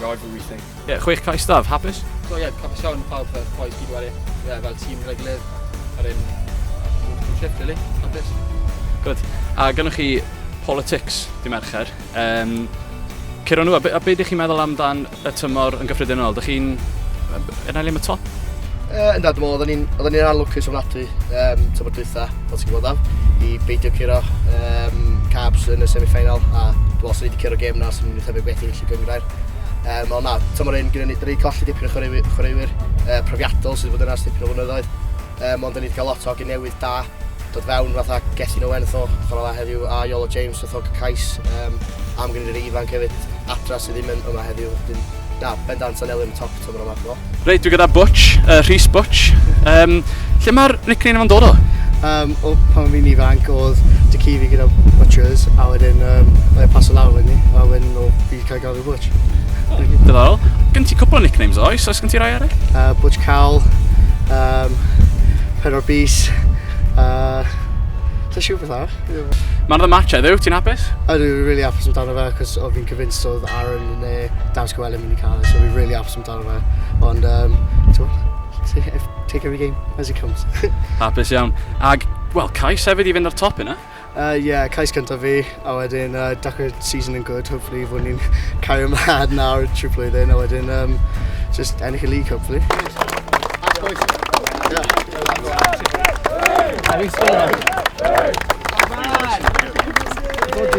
Rydw i think. Ie, chwech cais staf, hapus? So ie, hapus iawn pawb fel boys gyd wedi. Ie, fel tîm gyda'i gilydd. Yr un trip, really. Hapus. Good. A gynnwch chi politics di Mercher. Um, Ciro nhw, a be, a be ydych chi'n meddwl amdan y tymor yn gyffredinol? Dych chi'n... Yna le am y top? Uh, ynddo, dwi'n meddwl, oedden ni'n oedden ni'n anlwcus ofnadwy um, tymor dwytha, fel ti'n gwybod am, i beidio curo um, Cabs yn y semi-final, a dwi'n meddwl sy'n wedi curo gêm na sy'n mynd i thebyg beth i'n lle gyngrair. Um, ond na, tymor un gyda ni, dyn ni colli dipyn o chwaraewyr, chwaraewyr uh, profiadol sydd wedi bod yna dipyn o flynyddoedd, um, ond dyn ni wedi cael lot o ogyn newydd da, dod fewn fatha Gethin Owen fatha chwarae dda heddiw a Iolo James fatha cais um, am gynnydd y ifanc hefyd adra sydd ddim yn yma heddiw wedyn na bendant yn elyn top tymor yma do. Reit dwi gyda Butch, uh, Rhys Butch um, lle mae'r nickname yma'n dod o? Um, o pan fi'n ifanc oedd dy ci fi gyda Butchers a wedyn um, oedd e paso lawr wedyn ni a wedyn o fi cael Cael ei Butch. Diddorol. Gen ti cwpl o nicknames oes? Oes gen ti rai arall? Uh, Butch Cal, um, Pen o'r Bus, uh, Ta siw beth arall? Mae'n dda match heddiw, ti'n hapus? A dwi'n rili really hapus amdano fe, cos o fi'n convinced oedd Aaron yn e, Dawns Gwelyn mynd i cael e, so fi'n really hapus amdano fe. Ond, um, take every game as it comes. hapus iawn. Ag, wel, cais hefyd i fynd ar top yna. Yy ie cais cyntaf fi a wedyn yy dechre season yn good hopefully fo' ni'n cario mlan nawr trwy blwyddyn a wedyn yym jyst ennill y league hopefully. Ie.